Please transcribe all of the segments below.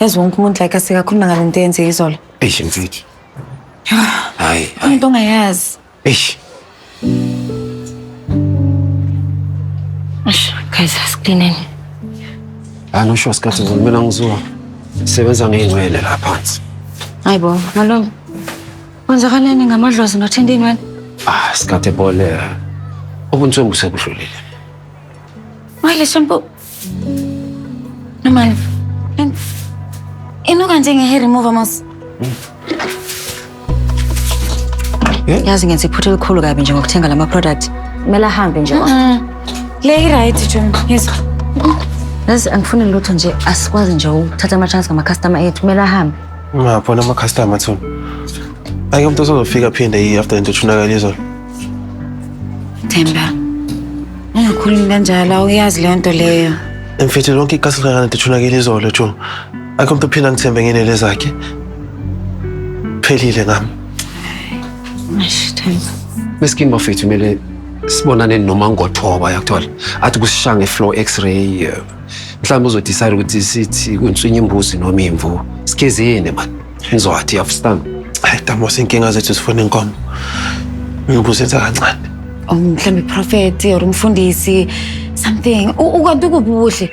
Yazi wonke umuntu like asikakhuluma ngale nto eyenze izolo. Eish mfethu. Hayi, Khona hayi. into ongayazi. Eish. Eish, guys asiklineni. Hayi no sure sikhathi zona mina ngizowa. Sebenza ngeyinwele la phansi. Hayi bo, malungu. Kwenzakaleni ngamadlozi nothinta inwele? Ah, sikhathi ebole. Ubuntswengu sekudlulile. Hayi le shampoo Normal. And inuka njenge-hair remover mos. Eh? Yazi ngenza iphutha elikhulu kabi nje ngokuthenga lama product. Kumele ahambe nje. Le i-right June. Yezwa. Yazi angifuni lutho nje asikwazi nje ukuthatha ama chance ngama customer ethu. Kumele ahambe. Ungabona ama customer thuna. Ake umuntu osozofika phinde yi after into thunakala izolo. Themba, ungakhulumi kanjalo awuyazi leyo nto leyo. Mfethu lonke ikasi likaNandi lithunakele izolo June. Akho umuntu ophila ngithembe ngenele zakhe. Phelile ngami. Eish, Themba. Meskin bafethu kumele sibonane noma ngothoba yakuthola athi kusishanga i-flow x-ray eh, mhlawumbe uzodecide ukuthi sithi kunswinya imbuzi noma imvu sikhezeni mani Ngizwathi yafstan. Hayi Damos inkinga zethu sifuna inkomo. Ngibusenza kancane. Oh, mhlawumbe prophet or umfundisi something. U- Ukanti ukuphi ubuhle?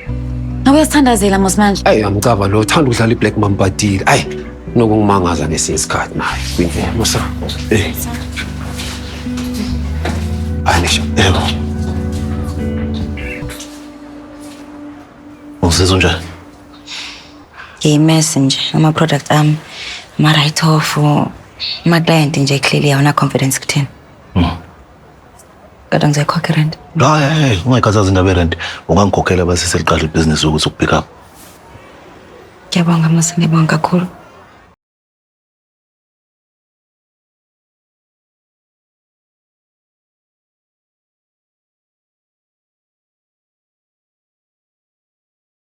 Ngabe uyasithandazela mos manje. Ayi amcaba lo uthanda ukudlala iblack mambadile. Ayi nokungimangaza ngesinye isikhathi naye. Kwindlela musa. Eh. Anisha. Yebo. Uzizwa njani? ngiyimesi nje ama-product ami ama-right off ama-client nje clearly awuna confidence kuthina hmm. kodwa ngizoyikhokha irent hayi ungayikhathazi indaba yerent ungangikhokhela basise liqala ibhizinisi ukuthi ukupick up ngiyabonga mase ngiyabonga kakhulu